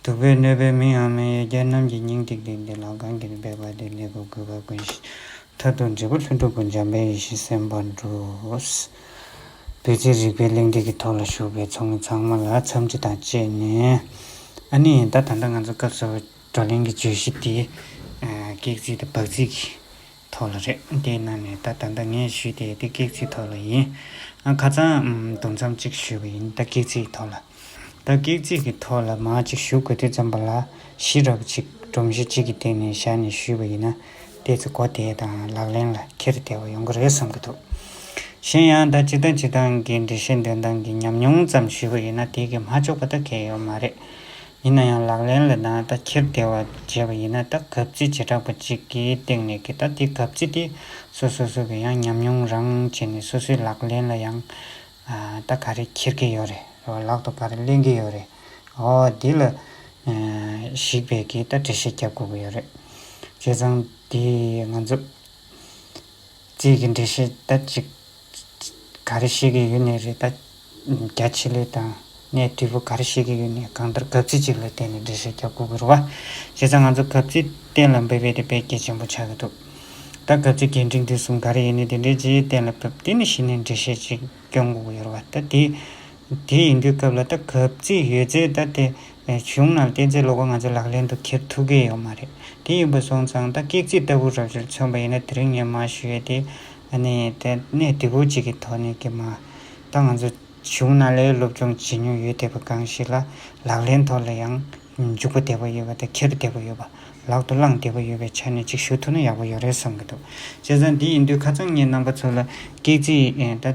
གདུག་པའི་གནོད་པའི་མི་འམ་མི་ཡི་གྱ་རྣམས་ཀྱི་སྙིང་ཏིག་ཏིག་འདི་ལ་གང་གིས་འབད་པ་དེ་ལེགས་པར་གོས་པ་ཀུན་གྱི་མཐར་ཐུག་འབྲས་བུ་ལྷུན་གྲུབ་པོ་འཇམ་པའི་ཡེ་ཤེས་སེམས་དཔའ་འགྲུབ། བོད་ཀྱི་རིག་པའི་གླེང་སྟེགས་ཀྱི་ཐོག་ལ་ཞུགས་པའི་ཚོགས་མི་ཚང་མ་ལ་འཚམས་འདྲི་དང་བཅས་ནས། ཨ་ནི་ད་ད་ལྟ་ང་ཚོ་སྐབས་གསར་བའི་བགྲོ་གླེང་གི་བརྗོད་གཞི་དེ། སྐེག་ཚིག་དང་བག་ཚིག་གི་ཐོག་ལ་རེད། དེའི་ནང་ནས་ད་ད་ལྟ་ངས་ཞུས་ཏེ་དེ་གེགས་རྩིས་ཐོག་ལ་ཡིན། ཁ་ཚང་དུམ་མཚམས་གཅིག་ཞུས་པ་ཡིན་ད་གེགས་རྩིས་ཐོག་ལ། ད་གེགས་རྩིས་ཀྱི་ཐོག་ལ་མ་གཅིག་ཞུ་དགོས་དུས་ཙམ་པ་ལ་གཞི་རགས་གཅིག་སྒྲོམ་གཞི་གཅིག་གི་སྟེང་ནས་བཞག་ནས་ཞུས་པ་ཡིན་ན་དེ་ཚོ་གོ་བདེ་དང་ལག་ལེན་ལ་འཁྱེར་བདེ་བ་ཡོང་གི་རེད་བསམ་གྱི་འདུག་གཞན་ཡང་ད་སྤྱི་བཏང་སྤྱི་བཏང་གི་འགྲེལ་བཤད་འདོན་སྟངས་ཀྱི་ཉམས་མྱོང་ཙམ་ཞུས་པ་ཡིན་ན་དེ་གི་མ་ལྕོགས་པ་ད་གེགས་ཡོད་མ་རེད། ཡིན་ན་ཡང་ལག་ལེན་ལ་ནང་ལྟ་འཁྱེར་བདེ་བ་བྱས་པ་ཡིན་ན་ད་གབ་རྩིས་བྱེ་བྲག་པ་ཅིག་གི་སྟེང་ནས་གི་ད་དེ་གབ་རྩིས་དེ་སོ་སོ་སོ་གི་ཡང་ཉམས་མྱོང་རང་བྱས་ནས་སོ་སོའི་ལག་ལེན་ལ་ཡང་ད་ག་རེ་འཁྱེར་གི་ཡོད་རེད་རེད་བ་ལག་ཏུ་ག་རེ་གླེང་གི་ཡོད་རེད་འོ་དེ་ལ་གཞིགས་པས་གི་ད་འགྲེལ་བཤད་རྒྱབ་དགོས་གི་ཡོད་རེད་བྱས་ཙང་དེ་ང་ཚོ། རྩིས་ཀྱི་འགྲེལ་བཤད་ད་ཅིག་ག་རེ་བཤད་ཀྱི་ཡོད་ནི་རེད་ད། རྒྱ་ཆེ་ལོས་དང་གནས་དུས་པོ་ག་རེ་བཤད་ཀྱི་ཡོད་ནི་གང་ལྟར་གབ་ཚིག་ཅིག་ལ་བརྟེན་ནས་འགྲེལ་བཤད་རྒྱག་དགོས་ཀྱི་རུ་བ། བྱས་ཙང་ང་ཚོ་གབ་ཚིག་གཏན་ལ་འབེབས་ཡས་དེ་བེད་སྐྱེད་ཆེན་པོ་ཆགས་ཀྱི་འདུག་ད་གབ་ཚིག་གས་འགྲིག་འདི་གསུམ་ག་རེ་ཡིན་ནི་དེ་འདྲའི་རྗེས་གཏན་ལ་འབེབས་དེ་ནི་གཞི་ནས་འགྲེལ་བཤད་ཅིག་རྐྱང་དགོས་ཀྱི་རུ་བ་ད་དེ་དེ་ཡིན་དུས་སྐབས་ལ་ད་གབ་རྩིས་ཡོད་ཚེ་ད་དེ་གཞུང་ནང་གཏན་ཚིགས་ལོག་པ་ང་ཚོ་ལག་ལེན་དུ་འཁྱེར་ཐུབ་ཀྱི་ཡོད་མ་རེད་དེ་ཡིན་པ་སོང་ཙང་ད་ཀེག་རྩིས་ལྟ་བུ་རབ་བྱུར་མཚོན་པ་ཡིན་ན་དེ་རིང་ངས་མ་ཞུས་དེ་ནི་དེ་གནས་དེ་བོ་གཅིག་གི་ཐོག་ནས་ཀྱི་མ་ད་ང་ཚོ་གཞུང་ནང་ལས་སློབ་སྦྱོང་བྱེད་མྱོང་ཡོད་བསྡད་པ་གང་ཞིག་ལ་ལག་ལེན་ཐོག་ལ་ཡང་འཇུག་པ་བསྡད་པ་ཡོད་པ་དང་འཁྱེར་བསྡད་པ་ཡོད་པ་ལག་ཏུ་བླངས་བསྡད་པ་ཡོད་པའི་ཆ་ནས་གཅིག་ཞུ་ཐུབ་ན་ཡག་པོ་ཡོད་རེད་བསམ་གྱི་འདུག་བྱས་ཙང་དེ་ཡིན་དུས་ཁ་ཚང་ངས་རྣམ་པ་ཚོ་ལ་ཀེག་རྩིས་ད།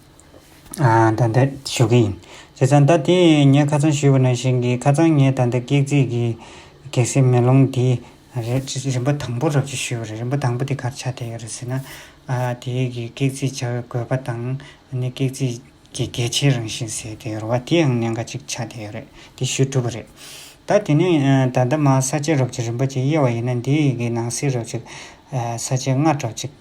ད་ལྟ་ཞུ་གི་ཡིན། བྱས་ཙང་ད་དེ་ངས་ཁ་ཚང་ཞུས་པ་ནང་བཞིན་གྱི་ཁ་ཚང་ངས་ད་ལྟ་སྐེག་རྩིས་ཀྱི་གེག་སེལ་མེ་ལོང་དེ། རིམ་པ་དང་པོ་རབ་བྱེད་ཞུས་པ་རེད་རིམ་པ་དང་པོ་དེ་གར་ཆ་བསྡད་ཡོད་རེད་ཟེར་ན། དེའི་གི་གེག་རྩིས་བྱ་བའི་དགོས་པ་དང་ནི་གེག་རྩིས་ཀྱི་གལ་ཆེའི་རང་བཞིན་ཟེར་དེ་རུ་བ་དེའང་ནས་འགའ་ཅིག་ཆ་བསྡད་ཡོད་རེད་དེ་ཞུས་གྲུབ་པ་རེད། ད་དེ་ནས་ད་ལྟ་མ་ས་བཅད་རབ་བྱེད་རིམ་པ་གཅིག་དབྱེ་བ་ཡིན་ན་འདི་ཡི་གི་ནང་གསེས་རབ་བྱེད། ས་བཅད་ལྔ་གྲབས་བྱེད།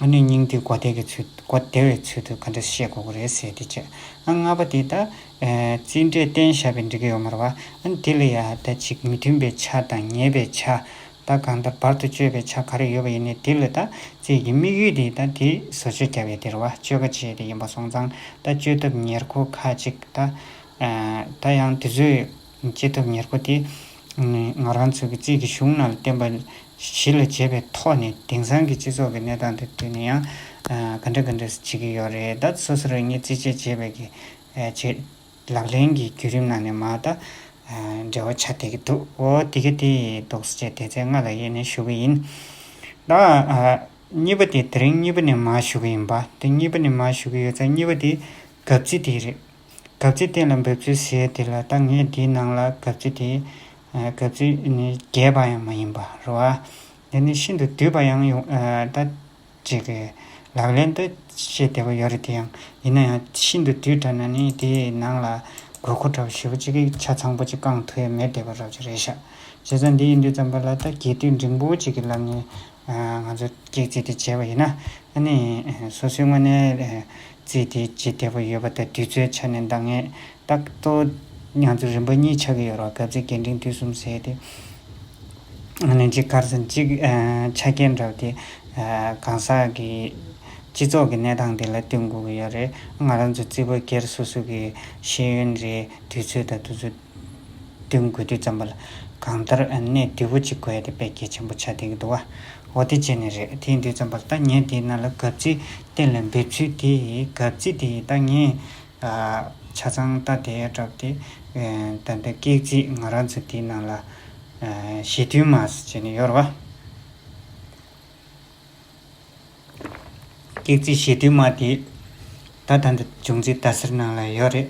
ཨ་ནུའི་སྙིང་ཏིག་གོ་བདེ་བའི་ཚུལ་དུ་ག་འདྲ་བཤད་དགོས་ཀྱི་རེད་ཟེར་ཏེ་དཔྱད། ཨ་ལྔ་པ་དེ་ད་རྩིས་འབྲས་བསྟན་ཞབས་པའི་འདྲི་གི་ཡོད་མ་རེད་བ། ཨ་དེ་ལ་ཡང་ད་ཅིག་མི་མཐུན་པའི་ཆ་དང་ཉེས་པའི་ཆ། ད་གང་ལྟར་བར་དུ་གཅོད་པའི་ཆ་ག་རེ་ཡོད་པ་ཡིན་ནས་དེ་ལ་ད་རྩིས་ཀྱི་དམིགས་ཡུལ་དེ་ད་དེ་བཟོ་བཅོས་རྒྱབ་ཡས་དེར་བ་བཅོས་ཁ་ཆེ་དེ་ཡིན་པ་སོང་ཙང་ད་བཅོས་ཐབས་ཉེར་མཁོ་ཁ་ཅིག་ད། ད་ཡང་དེ་ཚོའི་སྐྱེས་ཐོབ་ཉེར་མཁོ་དེ། ང་རང་ཚོ་གི་རྩིས་ཀྱི་གཞུང་རྣམས་བསྟན་པ་གཞི་ལ་བྱས་པའི་ཐོག་ནས་དེང་སང་གི་སྤྱི་ཚོགས་ཀྱི་གནས་སྟངས་དེ་བསྟུན་ནས་ཡང། ག་འདྲ་ག་འདྲ་བྱེད་ཀྱི་ཡོད་རེད་ད། སོ་སོ་རང་ཉིད་རྩིས་བྱས་བྱས་པའི་གི། བྱེད། ལག་ལེན་གྱི་བརྒྱུད་རིམ་ནང་ནས་མ་ད། འབྲེལ་བ་ཆགས་བསྡད་ཀྱི་འདུག་འོ་དེ་ག་དེ་ཡིན་འདུག་སེ་བྱས་དེ་ཚེ་སྔ་ལ་དབྱེ་ནས་ཞུ་གི་ཡིན། ད། གཉིས་པ་དེ་དེ་རིང་གཉིས་པ་ནས་མ་ཞུ་གི་ཡིན་པ་དེ་གཉིས་པ་ནས་མ་ཞུ་གི་ཡོད་ཚ་གཉིས་པ་དེ། གབ་ཚིག་དེ་རེད། གབ་ཚིག་གཏན་ལ་འབེབས་ཚུལ་ཞེས་དེ་ལ་ད་ངས་འདིའི་ནང་ལ་གབ་ཚིག་དེ། གབ་ཚིག་ནི་རྒྱས་པ་ཡང་མ་ཡིན་པ་རུ་ཨ། འདི་ནི་ཤིན་ཏུ་བསྡུས་པ་ཡང་ཡོང་ད། ཅེས་ཀྱི། ལག་ལེན་དུ་བཤད་བདེ་བ་ཡོད་རེད་དེ་ཡང་ཡིན་ན་ཡང་ཤིན་ཏུ་བསྡུས་འདྲ་ན་ནི་དེའི་ནང་ལ། དགོས་མཁོ་འདྲ་བོ་ཞུ་བ་ཅིག་གིས་ཆ་ཚང་པོ་ཅིག་བསྐངས་ཐུ་ཡ་མེད་བསྡད་པ་རབ་ཅིག་རེད་ཤག། བྱས་ཙང་འདི་ཡིན་དུས་ཙམ་པ་ལ་ད་རྒྱས་བསྡུས་འབྲིང་པོ་ཅིག་གི་ལམ་ནས། ང་ཚོ་སྐྱེག་རྩིས་དེ་བྱས་པ་ཡིན་ན། ཨ་ནི། སོ་སོའི་དངོས་གནས། རྩིས་དེ་ཇི་ལྟ་བུ་ཡོད་པ་དང་དུས་ཚོད་ཆ་ནས་འདང་ངེས་རྟགས་གཏོད། མྱང་ཚོར་རིམ་པ་གཉིས་ཆགས་ཀྱི་ཡོད་རོགས་སྐབས་ཚེ་རྒན་འབྲིང་དུས་གསུམ་བཟས་ཏེ། ལན་གཅིག་སྐར་ཚང་གཅིག་ཆ་རྐྱེན་འདྲ་བ་དེ། གང་ཟག་གི་སྤྱི་ཚོགས་ཀྱི་གནས་སྟངས་དེ་ལ་བསྟུན་དགོས་ཀྱི་ཡོད་རེད། ང་རང་ཚོ་རྩིས་པ་སྒེར་སོ་སོ་གི་ཤེས་ཡོན་རེད་དུས་ཚོད་དང་དུས་ཚོད། བདུན་དགོས་དུས་བརྩམས་པ་ལ། གང་ལྟར་གནས་དུལ་བོ་གཅིག་དགོས་ཡ་དེ་པད་ཁྱི་ཆེན་པོ་ཆ་འདེགས་འདུག་ཨ། འོ་དེ་བྱས་ནས་རེད་དེ་ཡིན་དུས་བརྩམས་པ་ལ་ད་ངས་དེའི་ནང་ལ་གབ་རྩིས་གཏན་ལ་འབེབས་ཚུལ་དེ་གབ་རྩིས་དེ་ད་ངས། ཆ་ཚང་རྟ་དེ་བྲབས་ཏེ། ད་འདི་སྐེག་རྩིས་ང་རང་ཚོ་དེའི་ནང་ལ། ཞེ་མཐུན་མ་ཟེར་བྱས་ནས་ཡོད་རེད་བ། ཀེག་ཙི་ཞེ་དུས་མ་དེ། ད་ད་འདི་འབྱུང་རྩིས་ཟླ་ཟེར་ནང་ལ་ཡོད་རེད།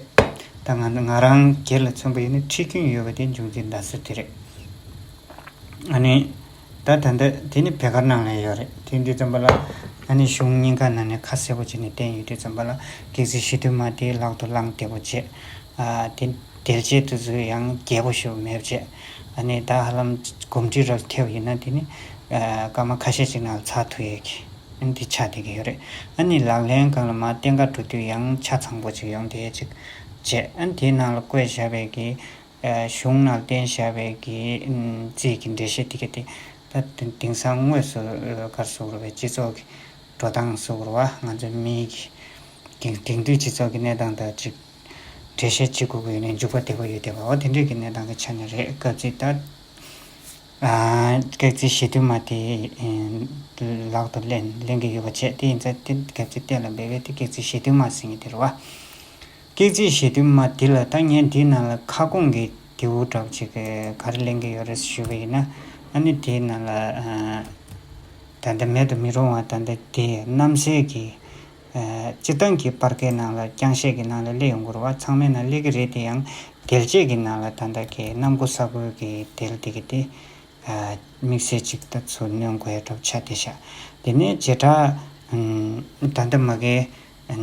ད་ང་ང་རང་སྒེར་ལ་མཚོན་པ་ཡིན་ན་ཁྲིད་རྒྱུན་ཡོད་པ་དེ་འབྱུང་རྩིས་ཟླ་ཟེར་དེ་རེད། ཨ་ནི། ད་ད་འདི་དེ་ནི་བེ་གར་ནང་ལ་ཡོད་རེད་དེ་འདི་ཙམ་པ་ལ། ཨ་ནི་གཞུང་སྙིང་ག་ན་ནས་ཁ་གསལ་པོ་བྱས་ནས་བསྟན་ཡོད་དུས་ཙམ་པ་ལ་ཀེག་ཙི་ཞེ་དུས་མ་དེ་ལག་ཏུ་བླངས་བདེ་པོ་བྱས། དེ་དེར་བྱས་དུས་སུ་ཡང་རྒྱལ་པོ་ཞུ་མེད་བྱས། ད་ནི་ད་ཧ་ལམ་གོམས་འདྲིས་རབ་ཐེབས་ཡིན་ན་དེ་ནི་སྐར་མ་ཁ་ཤས་ཅིག་ནང་ཚགས་ཐུག་ཡོད་ཀི། ཨ་འདི་ཆགས་བསྡད་ཀི་ཡོད་རེད། ཨ་ནི་ལག་ལེན་གང་ལ་མ་བརྟེན་ཁ་འགྲོ་དུས་ཡང་ཆ་ཚང་པོ་ཅིག་ཡོང་བསྡད་ཅིག་བྱེད། ཨ་དེའི་ནང་ལ་བཀོད་བཞག་པའི་གི། གཞུང་ནང་བསྟན་བཞག་པའི་གི་རྩིས་ཀི་འགྲེལ་བཤད་དེ་གི་དེ། ད་དེང་སང་དངོས་སུ་སྒར་སུག་རུ་བའི་སྤྱི་ཚོགས་གི། འགྲོ་སྟངས་སུག་རུ་བ་ང་ཚོའི་མིའི་གི། དེང་དུས་སྤྱི་ཚོགས་ཀི་གནས་སྟངས་དང་གཅིག། འགྲེལ་བཤད་བྱེད་དགོས་ཀྱི་ཡོད་ནའི་འཇུག་པ་དེ་པོ་ཡོད་བསྡད་པའོ་དེ་འདྲས་ཀྱི་གནས་སྟངས་ཀྱི་ཆ་ནས་རེད་སྐབས་རྩིས་ལྟར། སྐད་རྩིས་ཞེས་དུ་མ་དེ་ལག་ཏུ་ལེན་ལེན་གྱི་ཡོད་པ་བྱས་དེ་ཡིན་ཚད་དེ་སྐད་རྩིས་གཏན་ལ་འབེབས་པས་དེ་སྐད་རྩིས་ཞེས་དུ་མ་ཟེར་ངེས་དེ་རེད་བ། སྐད་རྩིས་ཞེས་དུ་མ་དེ་ལ་ད་ངས་འདིའི་ནང་ལ་ཁ་སྐོང་གི་དེའུ་སྒྲག་ཅིག་གི་ག་རེ་ལེན་གྱི་ཡོད་རེད་ཞུས་པ་ཡིན་ན་ཨ་ནི་དེའི་ནང་ལ་ད་ལྟ་མེད་དུ་མི་རུང་བ་ད་ལྟ་དེ་གནམ་སའི་གི་སྤྱིར་བཏང་གི་པར་ཁའི་ནང་ལ་རྐྱང་བཤད་ཀྱི་ནང་ལ་གླེ་ཡོང་གོར་བ་ཚང་མའི་ནང་གླེ་གི་རེད་དེ་ཡང་འགེལ་བྱེད་ཀྱི་ནང་ལ་ད་ལྟ་གི་གནམ་སྒོ་ས་ཁོལ་གྱི་དེ་ལ་དེ་གི་དེ། དམིགས་བསལ་ཅིག་ལྟ་ཚུལ་སྣོན་དགོས་ཡ་གྲུབ་ཆ་དེ་བཞག་དེ་ནས་བྱེ་བྲག། ད་ལྟ་མ་གལ།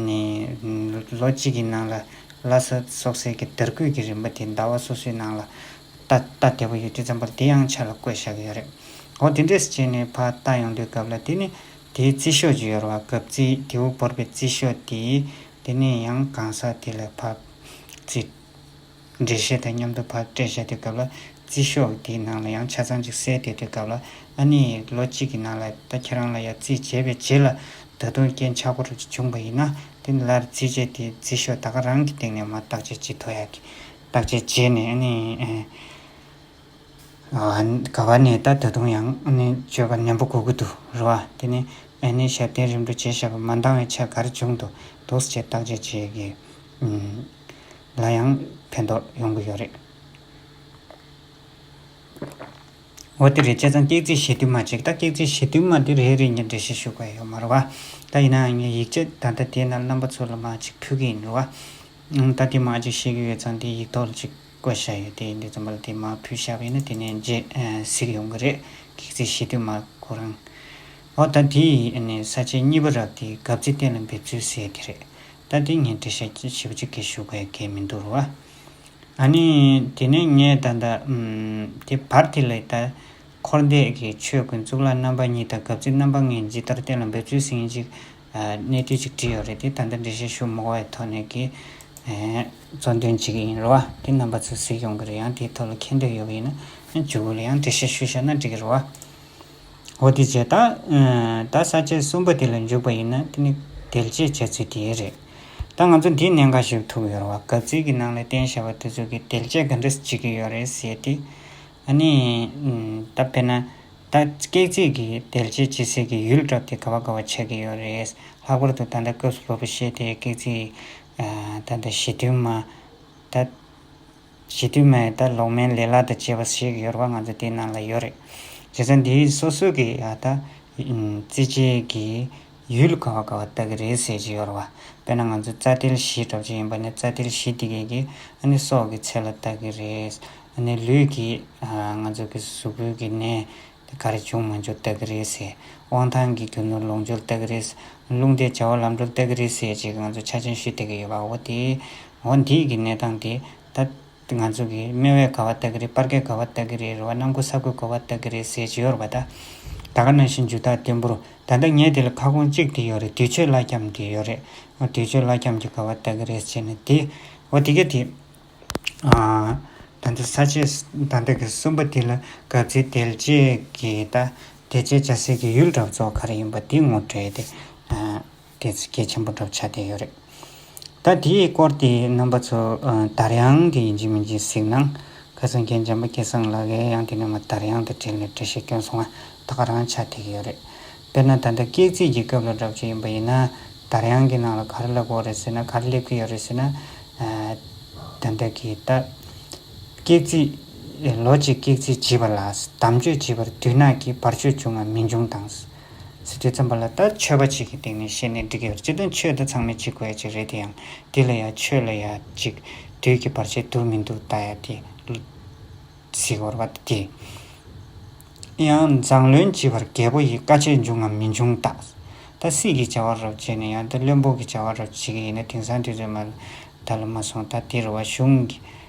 ནི། ལོ་གཅིག་གི་ནང་ལ་ལྷ་ས་སོག་སེར་གྱི་དར་སྐུད་ཀྱི་རིམ་པ་དེ་ཟླ་བ་སོ་སོའི་ནང་ལ། ལྟ་ལྟ་དེ་པོ་ཡོད་དུས་ཙམ་པར་དེ་ཡང་ཆ་ལ་བཀོད་བཞག་གི་ཡོད་རེད། འོ་དེ་འདྲས་སུ་བྱས་ནས་ཕ་ལྟ་ཡོང་དུས་སྐབས་ལ་དེ་ནི། དེའི་རྩི་ཤོག་ཅིག་ཡོར་བ་གབ་རྩིའི་རྡེའུ་བོར་པའི་རྩི་ཤོག་དེ། དེ་ནས་ཡང་གང་ཟག་དེ་ལ་བབས། རྩི། འབྲས་ཤེལ་དང་མཉམ་དུ་བབས་སྤྲད་བྱ་དེ་གབ་ལ། རྩི་ཤོག་དེའི་ནང་ལ་ཡང་ཆ་ཚང་ཅིག་བསྲེས་ཏེ་དེ་གབ་ལ། ཨ་ནི། ལོ་གཅིག་གི་ནང་ལ་ད་ཁྱེད་རང་ལ་ཡང་རྩིས་བྱས་པའི་རྗེས་ལ། ད་དུང་རྐྱེན་ཆག་པོ་རེ་བྱུང་བ་ཡིན་ན། དེ་ནི་ལར་རྩིས་བྱས་དེའི་རྩི་ཤོག་ད་ག་རང་གི་སྟེང་ནས་མ་བརྟག་བྱས་ཅི་ཐོག་ཡག་གི། བརྟག་བྱས་རྗེས་ནས་ཨ་ནི། ག་བ་ནས་ད་ད་དུང་ཡང་སྤྱོད་པ་ནན་པོ་གོ་གི་འདུག་རེད་བ། དེ་ནས་ཨེ་ནས་ཞབས་བརྟན་རིམ་གྲོ་བྱེད་ཞབས་པ་མ་འདང་བའི་ཆ་གར་བྱུང་འདུག་འདུག་ཅེས་བརྟག་དཔྱད་བྱེད་ཀྱི། ལ་ཡང་ཕན་ཐོག་ཡོང་གི་ཡོད་རེད། འོ་དེ་རེད་བྱས་ཙང་སྐེག་རྩིས་བྱེད་དུས་མ་བྱེད་ད་སྐེག་རྩིས་བྱེད་དུས་མ་དེ་རེད་རེད་ངས་འགྲེལ་བཤད་ཞུ་གི་ཡོད་མ་རེད་བ། ད་ཡིན་ནའང་ངས་ཡིག་ཆ་ད་ལྟ་དེ་ན་རྣམ་པ་ཚོ་ལ་མ་ཅིག་ཕུལ་གི་ཡིན་རེད་བ། ད་དེ་མ་ཅིག་ཤེས་ཀྱི་ཡོད་ཙང་དེ་ཡིག་ཐོག་ལ་ཅིག། བཀོད་བྱ་ཡོད་དེ་འདི་རྩོམ་པ་ལ་དེ་མ་ཕུལ་བཞག་པ་ཡིན་ན་དེ་ནས་རྗེས་གཟིགས་ཡོང་གི་རེད་གེགས་རྩིས་བྱེད་དུས་མ་གོ་རང། འོ་ད་དེ་ཡི་ས་བཅད་གཉིས་པ་རག་དེ་གབ་རྩིས་གཏན་ལ་འབེབས་ཚུལ་ཟེར་གི་རེད་ད་དེ་ངས་འབྲི་ཤག་ཅིག་བྱེད་པ་ཅིག་གི་ཞུ་གས་གས་མི་འདུག་རོ། ཨ་ནི་དེ་ནས་ངས་ད་ལྟ་དེ་བར་དེ་ལས་ད་འཁོར་འདས་ཀྱི་ཆོས་ཀུན་གཙུག་ལག་རྣམ་པ་གཉིས་དང་གབ་རྩིས་རྣམ་པ་ལྔའི་ཇི་ལྟར་གཏན་ལ་འབེབས་ཚུལ་ཟིན་ཅིག་གནས་བསྡུས་ཅིག་བྲིས་ཡོད་རེད་དེ་ད་ལྟ་འགྲེལ་བཤད་ཞུ་མོག་བའི་ཐོག་ནས་ཀྱི། གཙོ་འདོན་བྱེད་ཀྱི་ཡིན་རུང་བ་དེ་རྣམ་པ་ཚོས་གཟིགས་ཡོང་གི་རེད་ཡང་དེའི་ཐོག་ལ་མཁྱེན་འདོད་ཡོད་པ་ཡིན་ན་ཇུ་གུ་ལ་ཡང་འགྲེལ་བཤད་ཞུ་ཤག་ན་འགྲིག་གི་རུང་བ། འོ་དེ་རྗེས་ད་ད་ས་བཅད་གསུམ་པ་དེ་ལ་འཇུག་པ་ཡིན་ན་དེ་ནི་དལ་གཅེས་བྱས་ཚུལ་དེའི་རེད། ད་ང་ཚོ་འདིའི་གནད་འགག་ཞིག་ཐུག་ཡོད་རུང་བ་གབ་ཚིག་གི་ནང་ལ་བསྟན་བཞག་པ་དེ་ཚོ་གི་དལ་གཅེས་ག་འདྲ་བྱེད་ཀྱི་ཡོད་རེད་ཟེར་ཏེ། ཨ་ནི། ད་དཔེར་ན། ད་སྐེག་ཚིག་གིས་དལ་གྱིས་ཇི་སྲིད་ཀྱི་ཡུལ་བསྒྲགས་ཏེ་དགའ་བ་དགའ་བ་ཆགས་ཀྱི་ཡོད་རེད། ལྷག་པར་དུ་ད་ལྟ་སྐབས་སུ་ལོ་པོ་ཤེས་དེའི་སྐེག་ཚིག། ད་ད་ཞི་དུལ་མ། ད། ཞི་དུལ་མ་ཡིས་ད་ལོག་མན་ལེ་ལ་དང་བཅས་པ་བཤད་ཀྱི་ཡོད་རེད་པ་ང་ཚོ་དེའི་ནང་ལ་ཡོད་རེད། བྱས་ཙང་དེའི་སོ་སོ་གི་ད། རྩེད་ཆས་ཀྱི། ཡུལ་ག་བ་ག་བ་ལྟ་གི་རེད་ཟེར་གྱི་ཡོད་རེད་བ། དཔེར་ན་ང་ཚོས་རྩ་ཏིལ་བཞི་སྒྲོག་བྱེད་ཡིན་པ་ནས་རྩ་ཏིལ་བཞི་འདི་གས་ཀྱི་ཨ་ནི་སྲོག་གི་ཚད་ལ་ལྟ་གི་རེད། ཨ་ནི་ལུས་ཀྱི་ང་ཚོ་གི་གཟུགས་པོའི་གི་ནད་དེ་ག་རེ་བྱུང་མ་བྱུང་ལྟ་གི་རེད་ཟེར། དབང་ཐང་གི་རྒྱུ་ནོར་ལོངས་སྤྱོད་ལྟ་གི་རེད། རླུང་རྟའི་བྱ་བ་ལམ་འགྲོ་ལྟ་གི་རེད་ཟེར་གྱི་ང་ཚོས་ཆ་ཆེན་ཞུས་བསྡད་གི་ཡོད་བ་འོ་དེ། འོ་འདིས་གི་གནས་སྟངས་དེ་ད། འདི་ང་ཚོ་གི་སྨེ་བའི་ག་བ་ལྟ་གི་རེད་སྤར་ཁའི་ག་བ་ལྟ་གི་རེད་རེ་བ་རྣམ་ཀུ་ས་ཁོའི་གོ་བ་ལྟ་གི་རེད་ཟེར་ཇི་ཡོར་བ་ད། ད་ག་ན་བཞིན་འཇུ་ཐག་བརྟན་པོར་ད་ལྟ་ངས་དེ་ལ་ཁ་སྐོང་གཅིག་དེ་ཡོད་རེད་དུས་ཆོས་བླ་འཁྱམས་དེ་ཡོད་རེད་ཨོ་དུས་ཆོས་བླ་འཁྱམས་ཀྱི་ག་བ་ལྟ་གི་རེད་ཅེས་ན་དེ། ཨོ་དེ་ག་དེ། ད་ལྟ་ས་ཆའི་ད་ལྟ་གི་གསུམ་པ་དེ་ལ་གབ་ཚིག་དལ་བཅས་ཀྱིས་ད་དེ་བྱས་བྱ་ཟེར་གྱི་ཡུལ་གྲབས་རྫོགས་ག་རེ་ཡིན་པ་དེ་ངོ་སྤྲད་དེ། དེ་ཚིག་གལ་ཆེན་པོ་སྒྲུབ་བྱ་དེ་ཡོད་རེད། ད་དེའི་སྐོར་དེ་རྣམ་པ་ཚོ་དར་ཡང་དེ་ཡིན་གྱི་མིན་གྱི་གཟིགས་ན། ཁ་སང་མཁན་འཇམ་པ་སྐལ་བཟང་ལགས་ཡ་ཡང་དེ་རྣམ་པ་དར་ཡང་དང་བྲལ་ནས་འབྲི་ཤེས་སྐྱོན་སོང་བ་ད་ག་རང་ཆ་ཐིག་གི་ཡོད་རེད། དཔེར་ན་ད་ལྟ་སྐས་བརྩིས་ཀྱི་སྐབས་ལ་བསྒྲགས་རྒྱུ་ཡིན་པ་ཡིན་ན། དར་ཡང་གི་ནང་ལ་གར་བསླེབ་འོག་རེད་ཟེར་ན་གར་བསླེབ་གི་ཡོད་རེད་ཟེར་ན། ད་ལྟ་གི་ད་སྐས་བརྩིས་ལོ་གཅིག་སྐས་བརྩིས་བྱིས་པ་ལ་དམ་ཆོས་བྱིས་པར་དུས་ནག་གིས་བར་ཆོད་བྱུང་ངམ་མི་འབྱུང་དང། ཚིག་དེ་བརྩམས་པ་ལ་ལྟ་ཆོས་པ་ཅིག་གི་སྟེང་ནས་བཤད་ནས་འབྲི་གི་རེད་ཅེ་ན་ཆོས་དེ་ཚང་མས་འབྱི་དགོས་ཡ་ཅིག་རེད་དེ་ཡང་འདི་ལ་ཡ་ཆོས་ལ་ཡ་ཅིག་དུས་ཀྱི་བར་ཆད་དུར་མི་འདུག་ལྟ་ཡ་དེ་ཟིག་འོར་བ་དེ། ཡང་མཛངས་བློན་འབྱི་བར་རྒད་པོ་ཡིས་དཀའ་སྤྱད་འབྱུང་ངམ་མི་འབྱུང་ལྟ། ད་སྲིད་ཀྱི་བྱ་བ་རོབ་བྱེད་ནས་ཡང་ད་བློན་པོ་གི་བྱ་བ་རོབ་བྱེད་ཀྱི་ཡིན་ན་དེང་སང་དེ་ཚོས་མ་ལ་ད་ལ་མ་སོང་ད་དེ་རུ་བ་གཞུང་གི་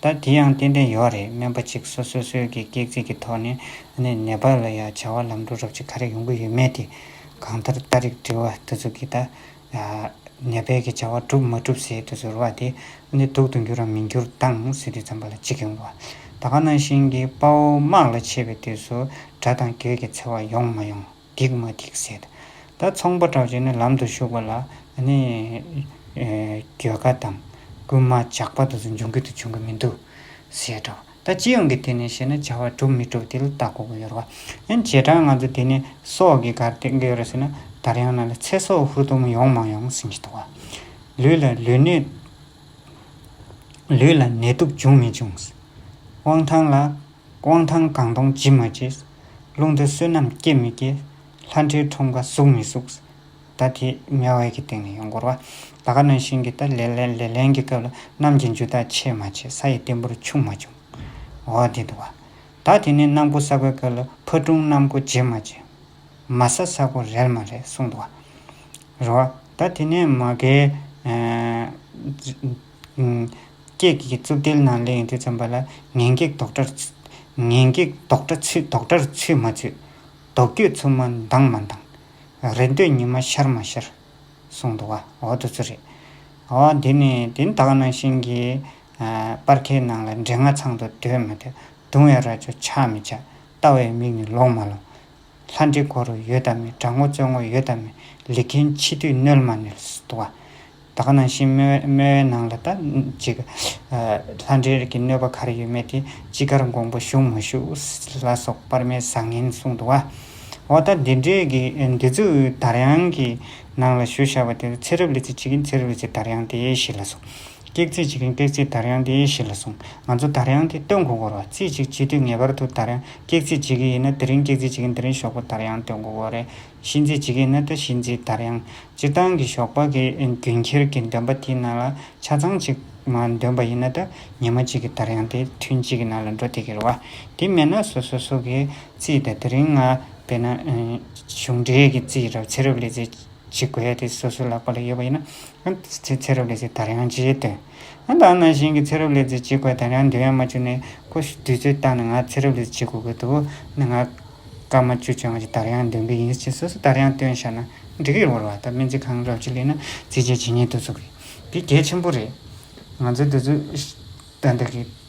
ད་དེ་ཡང་ཏན་ཏན་ཡོད་རེད་སྨན་པ་གཅིག་སོ་སོ་སོའི་གི་སྐེག་ཚིག་གི་ཐོག་ནས་ནས་ནད་པ་ལ་ཡང་བྱ་བ་ལམ་འགྲོ་རོབ་ཅིག་ག་རེ་ཡོང་གི་ཡོད་མེད་དེ་གང་ལྟར་ལྟ་རིགས་དྲི་བ་དེ་ཚོ་གི་ད་ནད་པའི་གི་བྱ་བ་གྲུབ་མ་གྲུབ་ཟེར་དུ་ཟེར་བ་དེ་ནི་སྡུག་ཏུ་འགྱུར་རམ་མི་འགྱུར་བཏང་ཟེར་དུས་ཙམ་པ་ལ་གཅིག་ཡོང་བ་ད་ག་ནང་བཞིན་གི་དཔའ་བོ་དམག་ལ་ཆས་པའི་དུས་སུ་དགྲ་དང་གྱོད་ཀྱི་འཚེ་བ་ཡོང་མ་ཡོང། སྡིག་མ་སྡིག་བསལ་དང། ད་ཚོང་པ་གྲགས་ཅན་ནི་ལམ་དུ་ཞུགས་པ་ལ་ནི། གྱོད་ཁ་དང། རྐུན་མ་ཇག་པ་དུ་ཚོད་འབྱུང་གི་དུ་འབྱུང་གི་མི་འདུག། ཞེས་སྒྲོག། ད་ཅི་ཡོང་གི་དེ་ནི་ཞེ་ན་བྱ་བ་གྲུབ་མི་གྲུབ་དེ་ལ་བལྟ་དགོས་གི་ཡོད་རོ། ཡང་བྱེ་བྲག་ང་ཚོ་དེ་ནི་སྲོག་གི་གར་སྟེགས་འདི་ཡོད་ཟེར་ན་དར་ཡང་ན་ལ་ཚེ་སྲོག་ཧུར་ཐུམ་ཡོང་མ་ཡོང་ཟིན་གྱི་འདུག་བ། ལུས་ལ་ལུས་ནད། ལུས་ལ་ནད་དུག་འབྱུང་མི་འབྱུང། དབང་ཐང་ལ། དབང་ཐང་སྒང་སྟོང་ཇི་མ་ཇིས། ཀླུང་རྡོལ་བསོད་ནམས་སྐྱེ་མི་སྐྱེ། ལྷ་འདྲེའི་ཁྲོམ་ཁ་ཟུག་མི་ཟུག། ད་དེ་མེ་དབལ་གྱི་སྟེང་ནས་ཡོང་འགོར་བ། ད་ག་ནང་བཞིན་གྱི་ད་ལེ་ལེ་ལེ་ལན་གྱི་སྐབས་ལ་གནམ་གྱི་འཇུ་ཐག་ཆད་མ་ཆད་ས་ཡི་སྟེང་འབུར་ཆུང་མ་ཆུང། འོ་དེ་འདུག་བ། ད་དེ་ནས་གནམ་སྒོ་ས་གོའི་སྐབས་ལ་ཕ་སྒྲུང་གནམ་སྒོ་ཇེ་མ་ཇེ། མ་ས་ས་གོ་རལ་མ་རལ་གསུངས་འདུག་བ། རེད་བ། ད་དེ་ནས་མ་གའི། སྐྱེགས་ཀྱི་རྩུབ་དལ་ནང་ལས་འདི་བརྩམས་པ་ལ་ངན་སྐྱེགས་ལྡོག་འདྲར། ངན་སྐྱེགས་ལྡོག་འདྲ་ཚུལ་ལྡོག་འདྲར་ཚུལ་མ་ཚུལ། ལྡོག་སྐྱོད་ཚུབ་མ་མདངས་མ་མདངས། རེ་འདོད་ཉི་མ་ཤར་མ་ཤར། གསུངས་འདུག་བ་འོ་དོ་ཚུལ་རེད། འོ་དེ་ནི་དེ་དག་ནང་བཞིན་གྱི། སྤར་ཁའི་ནང་ལ་འབྲས་ལྔ་ཚང་དུ་སྡོད་མ་སྡོད། བརྡུང་བའི་རྭ་ཅོ་ཆག་མི་ཆག། ལྟ་བའི་མིག་ནི་ལོག་མ་ལོག། ལྷ་འདྲེ་སྒོ་རུ་ཡོད་དམ་མེད་དགྲ་ངོ་བཙོན་ངོ་ཡོད་དམ་མེད་ལི་མཁན་འཆི་དུས་གནོད་མ་གནོད་དུ་བ། ད་ག་ནང་བཞིན་སྨྲེ་བའི་ནང་ལ་ད་ཅིག། ལྷ་འདྲེ་གི་གནོད་པ་གར་ཡོད་མེད་དེ་ཅི་དགར་འགོང་པོ་ཞུགས་མ་ཞུགས་ལ་སོགས་དཔར་མའི་བཟང་ངན་གསུངས་དུ་བ། འོ་ད་འདི་འདྲའི་གི་འདི་ཚོའི་དར་དབྱངས་ཀྱི་ནང་ལ་ཞུ་བཞག་པ་དེ་ཚེ་རབས་ལི་ཚེ་ཅིག་གི་ཚེ་རབས་ལི་ཚེ་དར་དབྱངས་དེ་ཞིག་ལ་སོགས་སྐྱེག་རྩིས་བྱེད་མཁན་སྟེགས་རྩིས་དར་དབྱངས་དེ་ཡེ་ཤེས་ལ་སོང། ང་ཚོ་དར་དབྱངས་དེ་སྟོན་གོ་སྐོར་བ་རྩིས་གཅིག་བྱེད་དུས་ངེས་པར་དུ་དར་དབྱངས་སྐྱེག་རྩིས་བྱེད་ཀྱི་ཡིན་ན་དེ་རིང་སྐྱེག་རྩིས་བྱེད་མཁན་དེ་རིང་ཞོགས་པ་དར་དབྱངས་སྟོན་གོ་སྐོར་རེ་གཤིན་རྩིས་བྱེད་ཀྱི་ཡིན་ན་ད་གཤིན་རྩིས་དར་དབྱངས། སྤྱིར་བཏང་གི་ཞོགས་པ་གི་རྒྱུན་ཁྱེར་གྱི་འདོན་པ་དེའི་ནང་ལ་ཆ་ཚང་གཅིག་མ་འདོན་པ་ཡིན་ན་ད་ཉི་མ་གཅིག་གི་དར་དབྱངས་དེ་ཐུན་གཅིག་གི་ནང་ལ་འགྲོ་དེ་གི་རེད་བ། དེ་མེད་ན་སོ་སོ་སོ་གི་རྩིས་དེ་དེ་རིང་ང་བས་ན། གཞུང་འབྲེལ་གྱི་རྩིས་རབ་ཚེ་རབ་ལས་རྩིས་བྱེད་དགོས་ཡ་དེ་སོ་སོའི་ལག་པ་ལ་ཡོད་པ་ཡིན་ན་ཚེ་ཚེ་རབས་ལས་ཚེ་དར་ཡང་ཅིའི་དོན། ད་ནང་བཞིན་གྱི་ཚེ་རབས་ལས་ཚེ་གཅིག་པ་དར་ཡང་འདོད་ཡོན་མ་བཅུ་ནི་ཀོ་ཤུ་བདུད་རྩིར་བཏགས་ནས་ང་ཚེ་རབས་ལས་གཅིག་གོ་དགོས་འདུག་ནི་ང་སྐར་མ་བཅུ་བཅོ་ལྔ་གཅིག་དར་ཡང་འདོན་གི་ཡིན་ཕྱིན་སོ་སོ་དར་ཡང་སྟོན་ཤར་ན་འགྲིག་གི་རོར་བ་ད་སྨན་རྩིས་ཁང་གི་རབས་ཅིག་གླེང་ན་རྩིས་ཆེན་ཇི་སྙེད་དུ་ཚུགས་གི། དེ་གལ་ཆེན་པོ་རེད། ང་ཚོའི་འདི་ཚོ་ད་འདི་གི།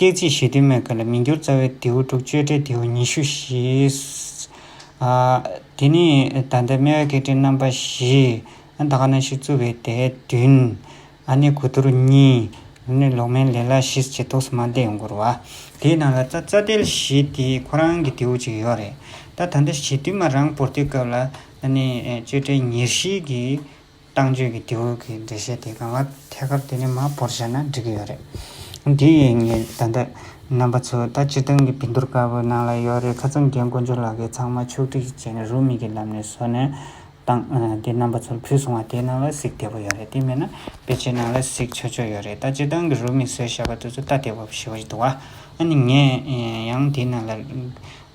སྐད་ཅིག་ཞི་དུལ་མེད་ཁ་ལ་མི་འགྱུར་རྩ་བའི་ལྡེའུ་དྲུག་གཅོད་བྲལ་ལྡེའུ་ཉི་ཤུ་བཞི། དེ་ནས་ད་ལྟའི་སྨེ་བའི་སྐད་ཕྲེང་རྣམ་པ་བཞི། ད་ག་ན་ཤི་རྩུབ་པའི་དད་བདུན། ཨ་ནི་གོ་དུར་གཉིས། ལུས་ནི་ལོག་སྨན་ལས་ལ་ཤི་ཟེར་ཏོག་སི་མ་འདས་མགུར་བ། དེའི་ནང་ལ་རྩ་དལ་བཞི་དེ་ཁོ་རང་གི་ལྡེའུ་གཅིག་ཡོད་རེད། ད་ད་ལྟ་ཞི་དུལ་མ་རང་བོར་ཏེ་སྐབས་ལ་ནི་གཅོད་བྲལ་ཉེར་བཞི་གི། བཏང་བཅོས་ཀྱི་དེ་འོས་ཀྱི་འགྲེལ་བཤད་དེ་གང་ལ་ཐད་ཀར་དེ་ནས་མ་བོར་བྱས་ན་འགྲིག་གི་ཡོད་རེད། དེ་ཡིན་ངེས་ད་ལྟ་རྣམ་པ་ཚོ་ད་སྤྱིར་བཏང་གི་བི་འདུར་དཀར་པོའི་ནང་ལ་ཡོད་རེད་ཁ་ཚང་རྒན་དཀོན་མཆོག་ལགས་ཀྱིས་ཚང་མ་ཕྱོགས་སྒྲིག་ཅིག་བྱས་ནས་རུ་མིག་གི་ལམ་ནས་བཟོ་ནས་བཏང་དེ་རྣམ་པ་ཚོར་ཕུལ་སོང་བ་དེའི་ནང་ལ་གཟིགས་བདེ་པོ་ཡོད་རེད་དེ་མེད་ན་དཔེ་ཆའི་ནང་ལ་གཟིགས་ཆོག་ཆོག་ཡོད་རེད་ད་སྤྱིར་བཏང་གི་རུ་མིག་བཟོས་བཞག་པ་དེ་ཚོ་ལྟ་བདེ་བོ་ཞིག་འདུག་བ་ཨ་ནི་ངས་ཡང་དེའི་ནང་ལ་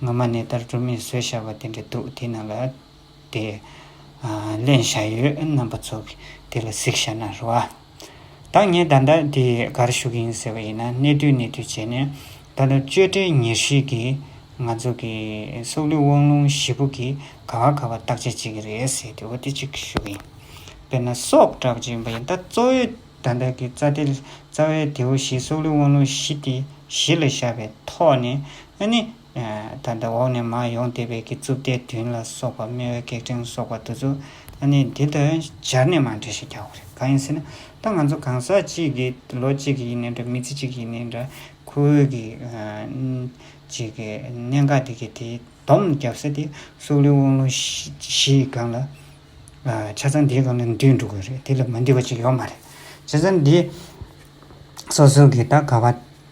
སྔོན་མ་ནས་ལྟར་རུ་མིག་བཟོས་བཞག་པ་དེ་འདྲ་འདུག་དེའི་ནང་ལ། དེ། ལེན་བྱ་ཡུལ་རྣམ་པ་ཚོགས་ཀྱི་དེ་ལ་གཟིགས་བྱ་ན་རུ་བ། ད་ངས་ད་ལྟ་དེ་གར་ཞུགས་ཡིན་ཟེར་བ་ཡིན་ན་གནས་དུས་གནས་དུས་བྱས་ནས་ད་ལྟ་གཅོད་བྲལ་ཉེར་ཞིག་གིས་ང་ཚོ་གི་སྲོག་ལུས་དབང་ལུང་བཞི་པོ་གིས་ག་བ་ག་བ་བརྟག་དཔྱད་བྱེད་ཀྱི་རེད་ཟེར་དུས་འོ་དེ་ཅིག་ཞུ་གི་ཡིན། དཔེར་ན་སྲོག་དྲག་ཅིག་ཡིན་པ་ཡིན་ད་གཙོ་བོའི་ད་ལྟ་གི་རྩ་དེ་རྩ་བའི་དེའུ་བཞི་སྲོག་ལུས་དབང་ལུང་བཞི་དེ་བཞི་ལ་བཞག་པའི་ཐོག་ནས་ཨ་ནི། ད་ལྟ་འོག་ནས་མར་ཡོང་བདེ་བའི་གི་རྩུབ་ལྟའི་དུན་ལ་སོགས་པ་སྨེ་བའི་སྐེག་ཕྲེང་སོགས་པ་འདུ་ཚུལ་ཨ་ནི་འདི་ལྟར་སྦྱར་ནས་མར་འགྲེལ་ཞིག་རྒྱག་དགོས་རེད་གང་ཡིན་ཟེར་ན་ད་ང་ཚོ་གང་ཟག་གཅིག་གི་ལོ་གཅིག་གི་ཡིན་ནས་འདྲ་མི་ཚེ་གཅིག་གི་ཡིན་ནས་འདྲ་ཁོ་བོའི་གི་གཅིག་གི་གནད་འགག་འདི་གི་དེའི་བསྡོམས་བརྒྱབ་ས་དེ་སྲོག་ལུས་དབང་ལུང་བཞི་ཡི་སྒང་ལ་ཆ་ཚང་འདིའི་སྒང་ལ་འདུས་འགྲོ་དགོས་རེད་དེ་ལས་མ་འདུས་པ་གཅིག་ཡོད་མ་རེད་བྱས་ཙང་འདི་སོ་སོ་གི་ད་ག་བ་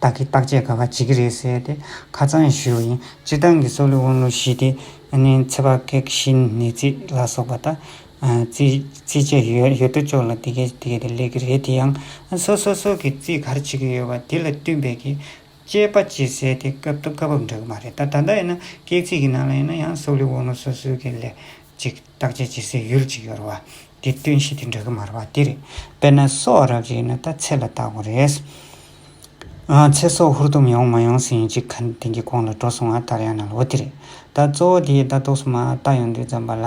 བདག་གི་བརྟག་དཔྱད་ག་བ་བྱེད་ཀྱི་རེད་ཟེར་ཏེ་ཁ་ཚང་ཞུས་བ་ཡིན། སྤྱིར་བཏང་གི་སྲོག་ལུས་དབང་ལུང་ཞི་བདེ། ཚེ་དཔག་གེགས་གཞིན་ནད་རྩི་ལ་སོགས་པ་དང། རྩིས་བྱས་ཡོད་ཡོད་དོ་ཅོག་ལ་དེ་གས་དེ་གས་དེ་ལས་ཀྱི་རེད་དེ་ཡང་སོ་སོ་སོ་གི་རྩིས་གར་བྱེད་ཀྱི་ཡོད་པ་དེ་ལ་བསྟུན་པའི་གི་དཔྱད་པ་བྱེད་ཟེར་དེ་སྐབས་དང་སྐབས་བབ་འདྲ་གི་མ་རེད་ད་ད་ལྟ་ཡིན་ན་གེགས་རྩིས་ཀྱི་ནང་ལ་ཡིན་ན་ཡང་སྲོག་ལུས་དབང་ལུང་སོ་སོའི་གི་ལས་གཅིག། བརྟག་དཔྱད་བྱེད་སའི་ཡུལ་གཅིག་ཡོད་རེད། དེ་སྟོན་གཞི་དེ་འདྲ་གི་མ་རེད་པ་དེ་རེད། དཔེར་ན་སོག་རབ་རེད་ན་ད་ཚེ་ལ་བརྟག་དགོས་རེད། ཚེ་སྲོག་ཧུར་ཐུམ་ཡོང་མ་ཡོང་ཟེར་ཡིན་གཅིག་ག་དེང་གི་གོང་ལ་འགྲོ་སོང་ང་ལྟར་ཡང་ན་ལོ་དེ་རེད། ད་གཙོ་བོ་དེའི་ལྟ་རྟོགས་སུ་མ་བརྟག་ཡོང་དུས་ཙམ་པ་ལ།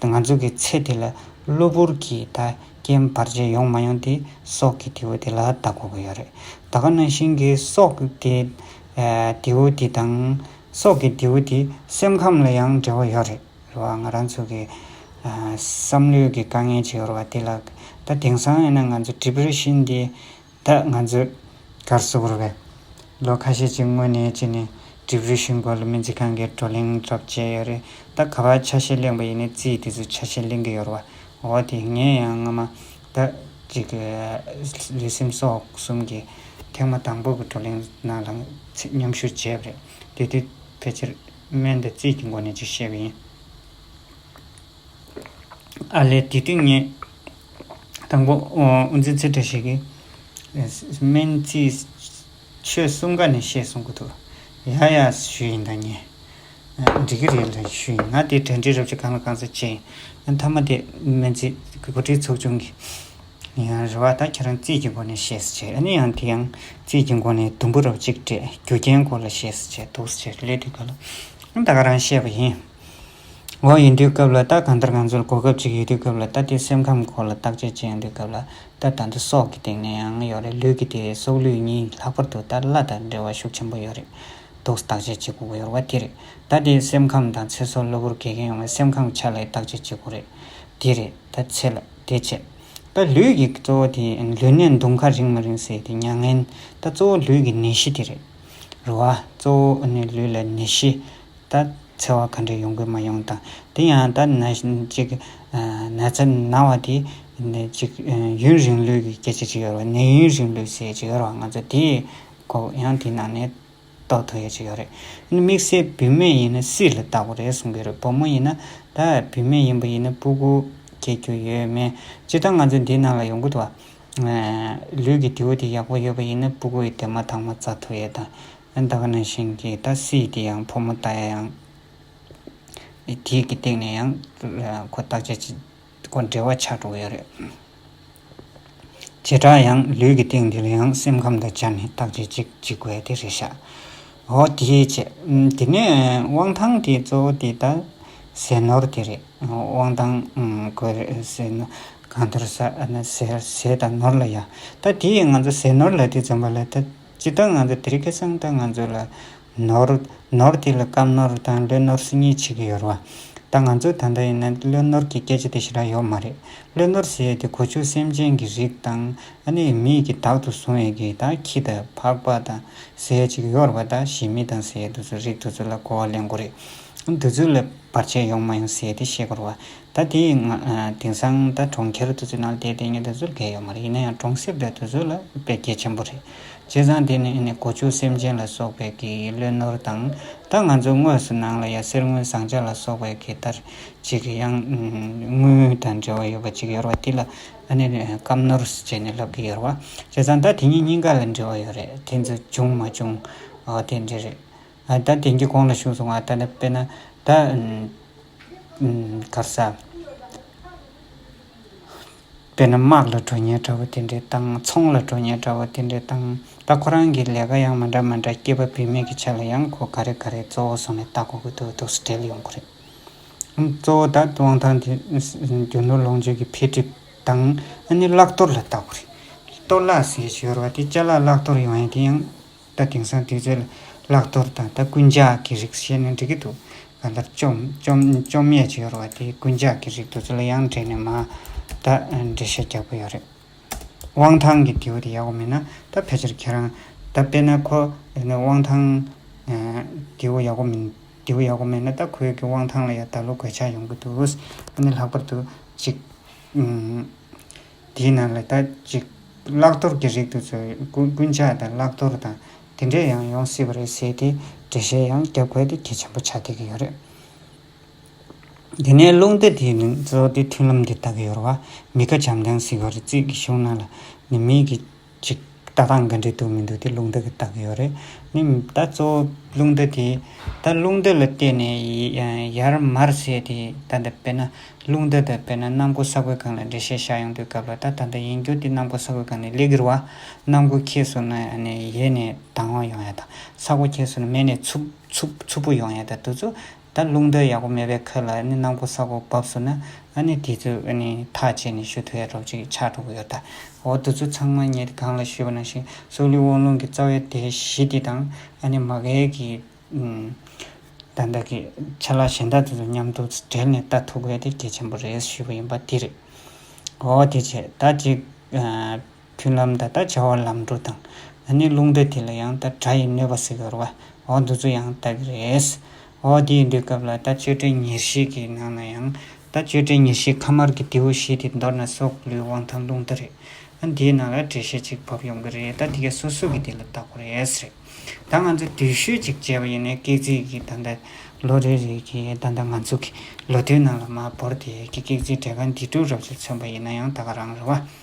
ང་ཚོ་གི་ཚེ་དེ་ལ་གློ་བུར་གྱི་ད་རྐྱེན་བར་ཆད་ཡོང་མ་ཡོང་དེ་སྲོག་གི་དེའུ་དེ་ལ་བལྟ་དགོས་ཀྱི་ཡོད་རེད། ད་ག་ནང་བཞིན་གྱི་སྲོག་གི་དེའུ་དེ་དང། སྲོག་གི་རྡེའུ་དེ་སེམས་ཁམས་ལ་ཡང་འབྲེལ་བ་ཡོད་རེད་རེད་བ་ང་རང་ཚོ་གི་བསམ་བློའི་གི་དཀའ་ངལ་ཅིག་ཡོད་རེད་བ་དེ་ལ་ད་དེང་སང་ཡིན་ན་ང་ཚོ Depression དེ་ད་ང་ཚོ་གར་བཟོ་དགོས་རེད་བས་ལོ་ཁ་ཤས་ཅིག་སྔོན་ནས་ཅིག་ནས Depression སྐོར་ལ་སྨན་རྩིས་ཁང་གི་བགྲོ་གླེང་གྲབས་བྱས་ཡོད་རེད་ད་ག་བ་ཆ་ཤས་གླེང་བ་ཡིན་ན་རྩིས་དེ་ཚོ་ཆ་ཤས་གླེང་གི་ཡོད་རེད་བ་འོ་དེ་ངས་ཡང་སྔོན་མ་ཟླ་གཅིག་གི་ལུས་སེམས་སྲོག་གསུམ་གྱི་ཐེངས་མ་དང་པོ་གི་བགྲོ་གླེང་ནང་ལ་མཉམ་ཞུགས་བྱས་པ་རེད། དེ་དུས་ཕལ་ཆེར་སྨན་དང་རྩིས་ཀྱི་སྒོ་ནས་ཅིག་བཤད་པ་ཡིན། ཨར་ལས་དེ་དུས་ངས་དང་པོ་དབུ་འཛིན་ཚེ་བཀྲ་ཤིས་ཀྱིས་སྨན་རྩིས་ཆོས་གསུམ་ཀ་ནས་བཤད་གསུང་གི་འདུག་ཡག་ཡག་ཞུས་ཡིན་ད་ཉན། འགྲིག་གི་རེད་ལ་ཞུས་ཡིན་ང་དེ་དོན་དྲི་རབ་ཅིག་གང་ལ་གང་ཟེར་བྱས་ཡིན་ང་མཐའ་མ་དེ་སྨན་རྩིས་འགོ་ཁྲིད་ཚོགས་ཆུང་གི་ཡང་རེད་བ་ད་ཁྱེད་རང་རྩིས་ཀྱི་སྒོ་ནས་བཤད་ཟེར་བྱས་ཨ་ནི་ཡང་དེ་ཡང་རྩིས་ཀྱི་སྒོ་ནས་དུམ་བུ་རབ་ཅིག་སྤྲད་རྒྱུ་རྐྱེན་སྐོར་ལ་བཤད་ཟེར་བྱས་འདུག་ཟེར་བྱས་སླད་དུས་ག་ལ་ཨང་ད་ག་རང་བཤད་པ་ཡིན། འོ་ཡིན་དུས་སྐབས་ལ་ད་གང་ལྟར་གང་ཚོད་གོ་སྐབས་ཅིག་ཡོད་དུས་སྐབས་ལ་ད་དེ་སེམས་ཁམས་སྐོར་ལ་བརྟག་དཔྱད་བྱེད་ཡོང་དུས་སྐབས་ལ་ད་ད་འདི་སྲོག་གི་སྟེང་ནས་ཡང་ཡོད་རེད་ལུས་ཀྱི་དེ་སྲོག་ལུས་གཉིས་ལྷག་པར་དུ་ད་བླ་དང་འབྲེལ་བ་ཤུགས་ཆེན་པོ་ཡོད་རེད་དུག་བརྟག་དཔྱད་བྱེད་དགོས་ཀྱི་ཡོད་པ་དེ་རེད། ད་དེ་སེམས་ཁམས་དང་ཚེ་སྲོག་གློ་བུར་གས་མཁན་ཡོང་བའི་སེམས་ཁམས་ཀྱི་ཆ་ལ་ཡི་བརྟག་དཔྱད་བྱེད་དགོས་རེད། དེ་རེད། ད་ཚེ་ལ་དེ་བྱེད། ད་ལུས་ཀྱི་གཙོ་བོ་དེ་ལུས་ནད་མདུང་ཁ་རིང་མ་རིང་སེལ་ཏེ་མྱ་ངན། ད་གཙོ་བོ་ལུས་ཀྱི་ནད་གཞི་དེ་རེད། རེད་བ། གཙོ་བོ་ནི་ལུས་ལ་ནད་གཞི། ད་འཚེ་བ་ག་འདྲས་ཡོང་གི་མ་ཡོང་དང། དེ་ཡང་ད་ན་ཅིག། ན་ཚ་ན་བ་དེ། ཅིག། ཡུན་རིང་ལུས་ཀྱི་སྐད་ཆ་རིག་ཡོད་རེད་བ། ནད་ཡུན་རིང་ལུས་སེལ་བྱེད་ཡོད་རེད་བ་ང་ཚོ་དེ། གོ། ཡང་དེའི་ནང་ནས་རྟོགས་ཐུབ་ཡོད་ཅིག་ཡོད་རེད། ཡིན་ན་དམིགས་བསལ་བུད་མེད་ཡིན་ན་སྲིད་ལ་བཏགས་པ་རེད་གསུང་གི་རེད་བུ་མོ་ཡིན་ན་ད་བུད་མེད་ཡིན་པ་ཡིན་ན་སྤུ་གུ་སྐྱེ་རྒྱུ་ཡོད་མེད་སྤྱིར་བཏང་ང་ཚོས་འདིའི་ནང་ལ་ཡོང་གི་འདུག་བ། ལུས་ཀྱི་དེའུ་དེ་ཡག་པོ་ཡོད་པ་ཡིན་ན་སྤུ་གུ་ཡི་དེ་མ་ཐག་མ་བཙའ་ཐུབ་ཡོད་ད། ད་ག་ནང་བཞིན་གྱི་ད་སྲིད་དེ་ཡང་ཕོ་མོ་ལྟ་ཡང། དེའི་གི་སྟེང་ནས་ཡང་ཁོ་བརྟག་དཔྱད་བྱེད། དགོས་འབྲེལ་བ་ཆགས་འགྲོ་ཡ་རེད། བྱེ་བྲག་ཡང་ལུས་ཀྱི་སྟེང་འདི་ལ་ཡང་སེམས་ཁམས་དང་སྦྱར་ནས་བརྟག་དཔྱད་ཅིག་བགྱིད་དགོས་དེ་རེད་ཤག་འོ་དེའི་ཕྱེད། དེ་ནས་དབང་ཐང་དེ་གཙོ་བོ་དེ་ད་ཟས་ནོར་དེ་རེད། དབང་ཐང་དགོས་རེད་ཟས་ནོར་གང་ཐོར་ཟ། ཟས་དང་ནོར་ལ་ཡ། ད་དེས་ང་ཚོ་ཟས་ནོར་ལ་དེ་འཛོམས་པ་ལ་ད། ཇི་ལྟར་ང་ཚོ་དེ་རིགས་ཀྱི་སེམས་ལྟར་ང་ཚོ་ལ་ནོར། ནོར་དེ་ལ་སྐམ་ནོར་དང་བློས་ནོར་སྲིད་ཉེས་བྱེད་ཀྱི་ཡོད་རེད་བ། ད་ང་ཚོ་ད་ལྟ་ཡིན་ན་བློས་ནོར་གྱི་སྐད་ཆ་དེ་ཤི་ར་ཡོད་མ་རེད། བློས་ནོར་ཟེར་ཡས་དེ་གོ་ཆོད་སེམས་ཅན་གྱི་རིགས་དང་ཨ་ནེ་ཡི་མིག་གིས་དག་ཏུ་བཟུང་ཡས་གི་ད་ཁྱི་དང་ཕག་པ་དང་ཟེར་ཡས་ཅིག་ཡོད་རེད་བ་ད་གཞི་མི་དང་ཟེར་ཡས་དུ་ཚོད་རིགས་དུ་ཚོད་ལ་གོ་བ་ལེན་དགོས་རེད། དུ་ཚོད་ལ་བར་ཆད་ཡོང་མ་ཡོང་ཟེར་ཡས་དེ་ཤེས་དགོས་རེད་བ། ད་དེ་ཡིན་ན་དེང་སང་ད་གྲོང་ཁྱེར་དུ་ཚོད་ནང་དེ་དེ་ཉིད་དུ་ཚོད་འགལ་ཡོད་མ་རེད་ཡིན་ན་ཡང་གྲོང་གསེབ་དེ་དུ་ཚོད་ལ་འཕེལ་རྒྱས་ཆེན་པོ་རེད། བྱས་ཙང་དེ་ནི་གོ་ཆུ་སེམས་ཅན་ལ་སོགས་པའི་གི་བློས་ནོར་དང། ད་ང་ཚོ་དངོས་སུ་ནང་ལ་ཡ་གསེར་དངུལ་ཟངས་ལྕགས་ལ་སོགས་པའི་གི་ལྟར་ཅིག་ཡང་དངུལ་དང་འབྲེལ་བ་ཡོད་པ་ཅིག་ཡོད་ར་བ་དེ་ལ་སྐམ་ནོར་བྱས་ནས་ལབ་གི་ཡོད་ར་བ། བྱས་ཙང་ད་དེ་ཉིད་གཉིས་ཀ་ལ་འབྲེལ་བ་ཡོད་རེད་དེ་ཚོ་བྱུང་མ་བྱུང་དེ་འདྲ་རེད། ཨ་ད་དེང་གི་གོང་ལ་བྱུང་སོང་ཨ་ད་ནི་དཔེར་ན་ད། གར་ས། དཔེར་ན་དམག་ལ་འགྲོ་ཉལ་འདྲ་བོ་དེ་འདྲའི་བཏང་ཚོང་ལ་འགྲོ་ཉལ་འདྲ་བོ་དེ་འདྲའི་བཏང་ད་ཁོ་རང་གི་ལས་ཀ་ཡང་མ་འདྲ་མ་འདྲ་སྐྱེས་པ་བུད་མེད་ཀྱི་ཆ་ལ་ཡང་ཁོ་ག་རེ་ག་རེ་གཙོ་བོ་སོང་ནས་ལྟ་གོ་གི་འདུག་འདུག་སུ་བྲེལ་ཡོང་གི་རེད། གཙོ་བོ་ད་དབང་ཐང་དེ་རྒྱུ་ནོར་ལོངས་སྤྱོད་ཀྱི་འཕེལ་འགྲིབ་དང་ཨ་ནི་བརླག་གཏོར་ལ་ལྟ་གོ་རེད། གཏོར་བརླག་ཟེར་བྱས་པ་དེ་བཅའ་བརླག་བརླག་གཏོར་ཡོང་ཡས་དེ་ཡང་ད་དེང་སང་དུས་ཚོད་བརླག་དོར་དང་ད་རྐུན་ཇག་གི་རིགས་བཤད་ན་འགྲིག་གི་འདུག་ག་ལྟར་བཅོམ་ཉེས་བྱེད་ཡོར་བ་དེ་རྐུན་ཇག་གི་རིགས་དུ་ཚོད་ལ་ཡང་འདྲེས་ནས་མ་ད་འགྲེལ་བཤད་རྒྱག་པོ་ཡོད་རེད། དབང་ཐང་གི་དེའུ་དེ་ཡག་པོ་མིན་ན་ད་ཕལ་ཆེར་ཁྱེད་རང་ད་དཔེ་ན་ཁོ་དབང་ཐང་དེའུ་ཡག་པོ་མིན་དེའུ་ཡག་པོ་མེད་ན་ད་ཁོའི་གི་དབང་ཐང་ལ་ཡང་ད་ལོ་གོད་ཆག་ཡོང་གི་འདུག་ཨ་ནི་ལྷག་པར་དུ་གཅིག། དེའི་ནང་ལ་དག་ཅིག་བླག་གཏོར་གྱི་རིགས་དུ་ཚོལ་དགོས་རྐུན་ཇག་དང་བླག་གཏོར་དང་དེ་འདྲས་ཡང་ཡོང་སྲིད་པ་རེད་ཟེར་ཏེ་འགྲེལ་བཤད་ཡང་རྒྱབ་བཀལ་ཏེ་གལ་ཆེན་པོ་ཆགས་བསྡད་ཀྱི་ཡོད་རེད། དེ་ནས་རླུང་རྟ་དེའི་ནང་ཙོག་སྟེ་མཐུན་ལམ་དེ་ལྟ་གི་ཡོད་རེད་བ། མི་ཁ་བྱམས་ཀྱང་ཟིག་བར་རྩིས་ཀྱི་བཞུགས་གནང་ལ་ནི་མིག་གིས་ཅིག། ལྟ་སྟངས་འགའ་འདྲེས་འདུག་མི་འདུག་དེ་རླུང་རྟ་གི་རྟགས་ཀྱི་ཡོད་རེད། ནི། ད་གཙོ་བོ་རླུང་རྟ་དེ། ད་རླུང་རྟ་ལ་བལྟས་ནས་ཡར་མར་བྱས་དེ། ད་ལྟ་དཔེར་ན། རླུང་རྟ་དང་དཔེར་ན་གནམ་སྒོ་ས་གོས་གང་ལ་འགྲེལ་བཤད་བྱ་ཡོང་དུས་སྐབས་ལ་ད་ད་ལྟ་ཡིན་རྒྱུ་དེ་གནམ་སྒོ་ས་གོས་གང་ནི་ལས་ཀྱི་རུ་བ། གནམ་སྒོ་ཁྱེར་སོང་ན་ཡང་ནི་ཡལ་ནས་དྭངས་བ་ཡོང་ཡ་དང། ས་གོ་ཁྱེར་སོང་ན་མེད་ནས་འཚུབ་འཚུབ་འཚུབ་པོ་ཡོང་ཡ་དང་དུས་ཚོད་ད་རླུང་རྟ་ཡག་པོ་མེད་པའི་ཁུལ་ལ་ནི་ནང་ཁུ་ས་གོ་བབས་སུ་ན་ཨ་ནི་དེ་ཚོས་ཨ་ནི་ཐག་བཅད་ནས་ཞུ་ཐུ་ཡ་རོབ་ཅིག་ཆགས་འགྲོ་གི་ཡོད་ད་འོ་དུ་ཚོ་ཚང་མ་ངས་དེ་གང་ལ་ཞུས་པ་ནང་བཞིན་སོག་ལུའི་དབང་ལུང་གི་རྩ་བའི་དེ་གཞི་དེ་དང་ཨ་ནི་མ་གལ་གི་ད་བདག་གི་ཆ་ལག་གཞན་དག་དེ་ཚོ་མཉམ་དུ་སྦྲེལ་ནས་ལྟ་ཐུབ་དགོས་དེ་གལ་ཆེན་པོ་རེད་ཞུས་པ་ཡིན་པ་དེ་རེད་འོ་དེ་བྱས་ད་ཅིག་མཐུན་ལམ་ད་ལྟར་བྱ་བ་ལམ་འགྲོ་དང། ད་ནི་རླུང་འདྲེ་དེ་ལ་ཡང་ད་དགྲ་ཡི་གནོད་པ་བསིལ་བར་བ་འོ་འདི་ཚོ་ཡང་ལྟ་གི་རེད། འོ་དེ་ཡི་འདོད་སྐབས་ལ་ད་གཅོད་བྲལ་ཉེར་ཞི་གི་ནང་ན་ཡང་ད་གཅོད་བྲལ་ཉེར་ཞིའི་ཁ་དམར་གི་དེའུ་བཞི་དེ་མདོར་ན་སྲོག་ལུས་དབང་ཐང་རླུང་རྟ་རེད། ཨ་འདིའི་ནང་ལ་བྲེལ་ཤ་གཅིག་བབས་ཡོང་གི་རེད་ད་འདི་ག་སོ་སོ་གི་དེ་ལ་བལྟ་དགོས་རེད་རེད། ད་ང་ཚོ་དུས་ཤོས་གཅིག་བྱས་པ་ཡིན་ནའི་སྐེག་རྩིས་ཀྱི་ད་ད་ལོ་རེ་རེ་གི་ད་ད་ང་ཚོ་གི་ལོ་དུས་ནང་ལ་མ་བོར་དེ་གི་སྐེག་རྩིས་བྲེལ་ཁ་འདི་དྲུག་རབ་ཙེ་མཚོན་པ་ཡིན་ན་ཡང་ད་ག་རང་རེད་བ།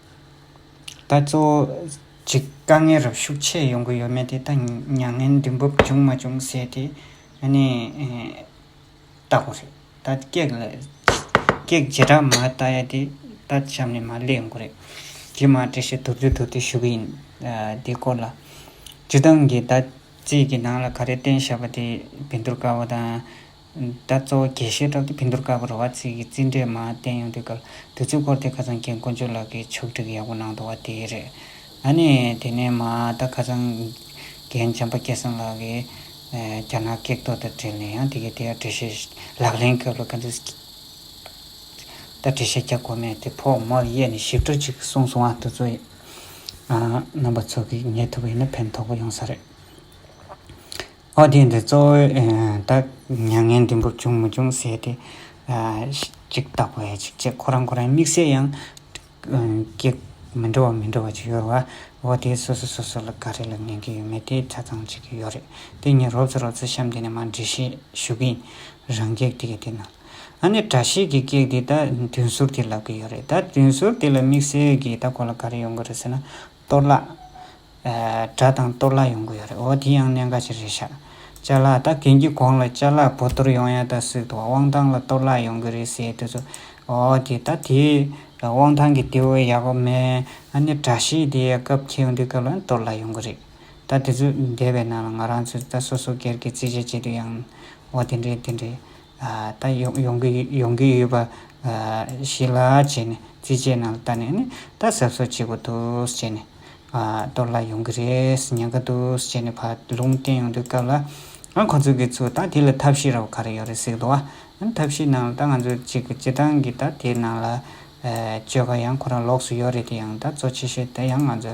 ད་གཙོ་བོ་གཅིག་དཀའ་ངལ་རབ་ཤུགས་ཆེ་ཡོང་གི་ཡོད་མེད་དེ་ད་མྱ་ངན་འདི་འབབ་བྱུང་མ་བྱུང་ཟེར་དེ་ཨ་ནི་ལྟ་གོ་རེད། ད་སྐྱེག་ལ་སྐྱེག་ཇི་འདྲ་མ་ལྟ་ཡ་དེ་ད་གཤམ་ནས་མ་གླེང་ཡོང་གི་རེད། དེ་མ་དྲིས་ཤིག་དུར་རྒྱུགས་དུར་རྒྱུགས་ཞུ་གི་ཡིན། དེའི་སྐོར་ལ། སྤྱི་བཏང་གིས་ད་རྩིས་ཀྱི་ནང་ལ་ག་རེ་བསྟན་བཞག་པ་དེ་བེད་འདུར་དཀའ་བ་དང། ད་གཙོ་བོ་དགེ་བཤེས་ཀྲོའུ་ཏི་བྷི་འདུར་ཀ་བ་རུ་བ་ཚིག་གི་རྩིས་འགྲེལ་མ་བསྟན་ཡོང་དུས་སྐབས་དུས་ཚོད་འཁོར་དེ་ཁ་ཚང་མཁན་དཀོན་མཆོག་ལགས་ཀྱིས་ཕྱོགས་སྒྲིག་ཡག་པོ་གནང་འདུག་བ་དེ་རེད། ད་ནི་དེ་ནས་མ་ད་ཁ་ཚང་རྒན་འཇམ་པ་སྐལ་བཟང་ལགས་ཀྱིས་རྒྱ་ནག་སྐད་ཐོག་ཏུ་བྲིས་ནས་ཡང་དེ་གའི་དེ་ཡར་འགྲེལ་བཤད་ལག་ལེན་སྐབས་ལ་ག་ཚོད་ད་འགྲེལ་བཤད་རྒྱག་དགོས་མེད་དེ་ཕོག་མར་གཡས་ནས་ཞིབ་ཏུ་ཅིག་གསུངས་སོང་བ་དེ་ཚོ་ཡིན། རྣམ་པ་ཚོ་གིས་ངེས་ཐུབ་པ་ཡིན་ན་ཕན་ཐོགས་པ་ཡོང་ས་རེད། ཨོ་རྒྱན་གྱི་གཙོ་བོས་ད་མྱ་ངན་འདི་འབུབ་བྱུང་མི་བྱུང་ཟེར་ཏེ། ཅིག་བརྟག་པ་ཡང་ཅིག་བྱེད་ཁོ་རང་ཁོ་རང་དམིགས་བསལ་ཡང། ཀྱེ། མི་འགྲོ་བ་མི་འགྲོ་བ་ཅིག་ཡོད་རེད་བ། འོ་དེས་སོ་སོ་སོ་སོ་ལ་ག་རེ་ལ་ཉན་གྱི་ཡོད་མེད་དེ་ཆ་ཚང་བྱེད་ཀྱི་ཡོད་རེད། དེ་ཉིན་རོབ་ཚ་རོབ་ཚ་གཤམ་དེ་ནས་མར་འགྲེལ་བཤད་ཞུ་གི་ཡིན། རང་གེགས་དེ་ག་དེ་གནང། ཨ་ནི་གྲྭ་ཤེས་ཀྱི་གེགས་དེ་ད་དུས་ཟུར་དེས་ལབ་ཀྱི་ཡོད་རེད་ད། དུས་ཟུར་དེ་ལ་དམིགས་བསལ་གྱིས་ད་ཁོ་ལ་ག་རེ་ཡོང་གི་རེད་ཟེར་ན། གཏོར་བརླག། དགྲ་དང་གཏོར་བརླག་ཡོང་གི་ཡོད་རེད་འོ་དེ་ཡང་གནད་འགག་ཅིག་རེད་ཤག། བཅའ་ལག་ད་གན་གྱི་གོང་ལ་བཅའ་ལག་བོ་དོར་ཡོང་ཡ་ད་སིག་ཏུ་དབང་ཐང་ལ་གཏོར་བརླག་ཡོང་གི་རེད་ཟེར་དུས་ཚོད་འོ་དེ་ད་དེ་དབང་ཐང་གི་དེ་འོས་ཡག་པོ་མེད་ཨ་ནི་དགྲ་ཤེས་དེ་སྐབས་ཁྱེའུ་འདི་སྐབས་ལ་ནི་གཏོར་བརླག་ཡོང་གི་རེད་ད་དེ་ཚོད་འདས་པའི་ནང་ལ་ང་རང་ཚོས་ད་སོ་སོ་སྒེར་གྱི་རྩིས་ཆ་བྱེད་དུས་ཡང་འོ་དེ་འདྲས་དེ་འདྲས་ད་ཡོང་གི་ཡོང་གི་ཡོད་པ་ཞིག་ལ་བྱས་ནས་རྩིས་ཆའི་ནང་ལྟ་ནས་ནི་ད་གཟབ་གཟབ་བྱེད་དགོས་འདུག་ཅེས་ནས། གཏོར་ལ་ཡོང་གི་རེད་ཉན་གི་འདུག་ཅེས་ནས་བར་ལུང་བསྟན་ཡོང་དུས་སྐབས་ལ། ང་ཁོང་ཚོ་གི་ཚོས་ད་དེ་ལ་ཐབས་ཤེས་ར་བ་ག་རེ་ཡོད་རེད་གཟིགས་འདུག་ཨ། ཐབས་ཤེས་ནང་ལ་ད་ང་ཚོ་གཅིག་གི་སྤྱི་བཏང་གི་ད་དེ་ནང་ལ། སྤྱོད་ཀ་ཡང་ཁོ་རང་ལོགས་སུ་ཡོད་རེད་དེ་ཡང་ད་གཙོ་ཆེ་ཤོས་ད་ཡང་ང་ཚོ་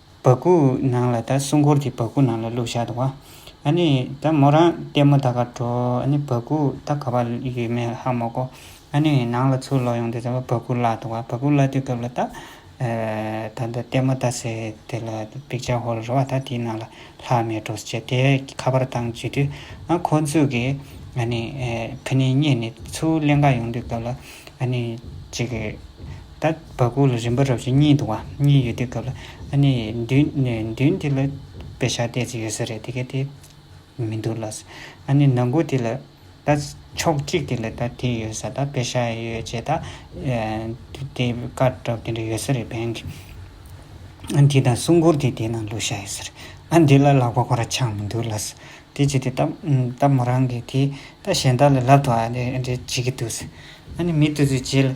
བ་ཀུ་ནང་ལ་ད་སྲུང་འཁོར་གྱི་བ་ཀུ་ནང་ལ་བླུག་བཞག་འདུག་བ། ཨ་ནི་ད་མོ་རང་ལྟད་མོ་ད་ག་འགྲོ་ཨ་ནི་བ་ཀུ་ད་ག་བ་ཡོད་མེད་ཧ་མོ་གོ། ཨ་ནི་ནང་ལ་ཚུར་ལོག་ཡོང་དུས་ད་བ་བ་ཀུ་བརླག་འདུག་བ་བ་ཀུ་བརླག་དུས་སྐབས་ལ་ད། ད་ད་ལྟད་མོ་ད་ཟེར་དེ་ལ་པིག་ཅག་ཧོལ་རེད་བ་ད་དེའི་ནང་ལ་ལྷག་མེད་འགྲོ་ཟེར་བྱས་དེ་ཁ་པར་བཏང་བྱས་དུས་ཨ་ཁོ་ཚོས་གི་ཨ་ནི་ཕི་ནི་རྙེད་ནས་ཚུར་གླེན་ག་ཡོང་དུས་སྐབས་ལ་ཨ་ནི་ཅིག། ད་བ་ཀུ་ལ་རིམ་པ་རབ་བྱེད་གཉིས་འདུག་བ་གཉིས་ཡོད་དུས་སྐབས་ལ་ཨ་ནི་མདུན་དེ་ལ་དཔེ་ཆ་བལྟས་ཚེ་ཡོད་ས་རེད་དེ་ག་དེ་མི་འདུག་ལ་ཨ་ནི་ནང་སྒོ་དེ་ལ་ད་ཕྱོགས་གཅིག་དེ་ལ་ད་དེ་ཡོད་ས་ད་དཔེ་ཆ་ཡོད་ཅེས་ད་དེ་དཀར་དྲག་དེ་འདྲ་ཡོད་ས་རེད་བན་གྱི་ཨ་དེ་དང་སྲུང་འཁོར་དེ་དེ་ནང་ལུས་བཞག་ཡོད་ས་རེད་ཨ་འདི་ལ་ལག་པ་ཁོ་ར་ཆགས་མི་འདུག་ལ་དེ་བྱས་ཏེ་ད་མོ་རང་གི་དེ་ད་གཞན་དག་ལ་ལབ་ཏུ་ཨ་འདྲ་བྱེད་ཀྱི་འདུག་ཨ་ནི་མི་ཏུ་ཚོས་བྱས་ལ།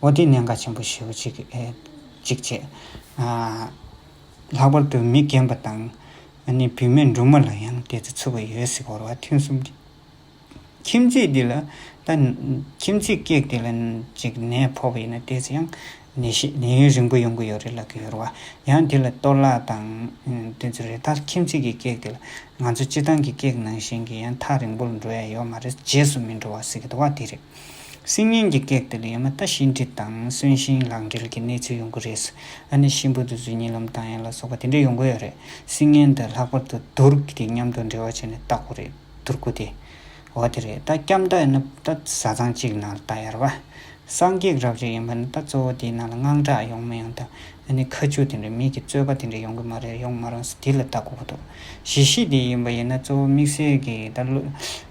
འོ་དེས་གནད་འགག་ཆེན་པོ་ཞེ་བོ་གཅིག་གཅིག་བྱས། ལྷག་པར་དུ་མི་རྒན་པ་དང། ཨ་ནེ་བུད་མེད་འབྲུག་མ་ལ་ཡང་དེ་ཚོ་ཚུད་པ་ཡོད་སྲིད་བོར་བ་ཐུན་གསུམ་གྱི་ཁྱིམ་མཚེས་འདི་ལ་ད། ཁྱིམ་མཚེས་སྐད་དེ་ལ་ཅིག་ནད་ཕོག་པ་ཡིན་ན་དེས་ཡང་ནད་ཤེས་ནད་ཡུན་རིང་པོ་ཡོང་གི་ཡོད་རེད་ལབ་ཀྱི་ཡོད་རེད་བ། ཡང་དེ་ལ་གཏོར་བརླག་དང་དེ་ཚོ་རེད་ད་ཁྱིམ་མཚེས་ཀྱི་སྐད་དེ་ལ་ང་ཚོ་སྤྱི་བཏང་གི་སྐད་ནང་བཞིན་གྱི་ཡང་ཐག་རིང་པོར་འགྲོ་ཡ་ཡོད་མ་རེད་རྗེས་སུ་མི་འགྲོ་བ་སྲིད་གི་འདུག་བ་དེ་རེད། སིང་ཉིན་གྱི་སྐད་དེ་ལས་ཡང་མི་ལྟ་ཞིང་འདྲི་དང་གསོན་ཞིང་ལག་འབྲེལ་གྱི་གནས་ཚུལ་ཡོང་གི་རེད། ཨ་ནེ་ཤིང་བུ་དུ་བཟོས་ཉིན་ལམ་དང་ཡན་ལ་སོགས་པ་དེ་འདྲས་ཡོང་གི་ཡོད་རེད། སིང་ཉིན་དེ་ལྷག་པར་དུ་དུར་ཁུ་དེ་མཉམ་དུ་འབྲེལ་བ་བྱས་ནས་བཏགས་པོ་རེད་དུར་ཁུ་དེ། འོ་དེ་རེད་ད་སྐྱབས་མདའ་ཡིན་ན་ད་བཟའ་ཚང་གཅིག་གི་ནང་ལ་བཏགས་ཡར་བ། སངས་རྒྱས་རབ་རིབ་ཡིན་པ་ནི་ད་གཙོ་བོ་དེའི་ནང་ལ་དངངས་སྐྲག་ཡོང་མི་ཡོང་དང་ཨ་ནེ་ཁ་ཆུ་དེ་འདྲས་མིག་གི་རྩོད་པ་དེ་འདྲས་ཡོང་གི་མ་རེད་ཡོང་མ་རུང་ས་དེ་ལ་བཏགས་དགོས་ཀྱི་འདུག་གཞི་ཤེས་དེ་ཡིན་པ་ཡིན་ན་གཙོ་བོ་དམིགས་བསལ་གྱིས་ད་བློ་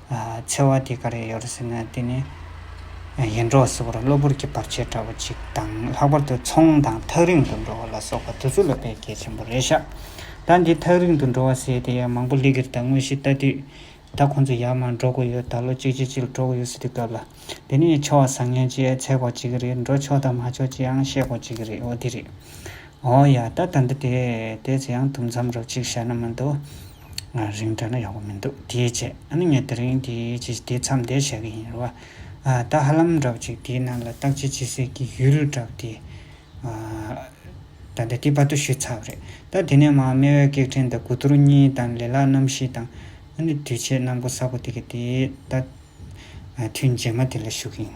འཚེ་བ་དེ་ག་རེ་ཡོད་ཟེར་ན་དེ་ནི་ཡེ་འདྲོག་སེ་བོར་གློ་བུར་གྱི་བར་ཆད་འདྲ་བོ་ཅིག་དང་ལྷག་པར་དུ་ཚོང་དང་ཐག་རིང་དུ་འགྲོ་བ་ལ་སོགས་པ་དེ་ཚོ་ལ་བེད་སྐྱེལ་ཆེན་པོ་རེད་ཤག་ད་འདི་ཐག་རིང་དུ་འགྲོ་བ་ཟེར་དེ་ཡང་མང་པོ་སླེ་གིར་ད་དངོས་གཞི་ལྟ་དུས་ད་ཁོང་ཚོ་ཡར་མར་འགྲོ་དགོས་ཡོད་ད་ལོ་གཅིག་རྗེས་གཅིག་ལ་འགྲོ་དགོས་ཡོད་ཟེར་དུས་སྐབས་ལ་དེ་ནི་ཡང་ཆོག་བཟང་ངན་ཅེས་འཚལ་དགོས་ཅི་གི་རེད་འགྲོ་ཆོག་དང་མ་ཆོག་ཅེས་ཡང་བཤད་དགོས་ཅི་གི་རེད་འོ་དེ་རེད་འོ་ཡ་ད་ད་འདི་དེ་དེ་ཚོ་ཡང་དུམ་མཚམས་རོབ་ཅིག་བཞག་ན་མི་འདུག། ང་རིང་དྲགས་ན་ཡག་པོ་མི་འདུག་དེའི་ཆེད་ཨ་ནི་ངས་དེ་རིང་དེ་ཇི་ཞིག་དེ་མཚམས་འདེད་བྱ་གི་ཡིན་རེད་བ། ད་ཧ་ལམ་འདྲ་བོ་ཅིག་དེའི་ནང་ལ་བརྟག་དཔྱད་བྱེད་སའི་གི་ཡུལ་ལུས་འདྲ་བོ་དེ། ད་ལྟ་དེ་དཔའ་ཏོ་ཞུས་ཚར་བ་རེད་ད་དེ་ནས་མ་རྨེ་བའི་སྐད་འཕྲིན་དང་དགུ་གཏོར་གཉིས་དང་ལེ་ལག་རྣམ་བཞི་དང། ཨ་ནི་དུས་ཆད་གནང་སྒོ་ས་པོ་དེ་གི་དེ་ད། དུས་མཇལ་མ་དེ་ལ་ཞུ་གི་ཡིན།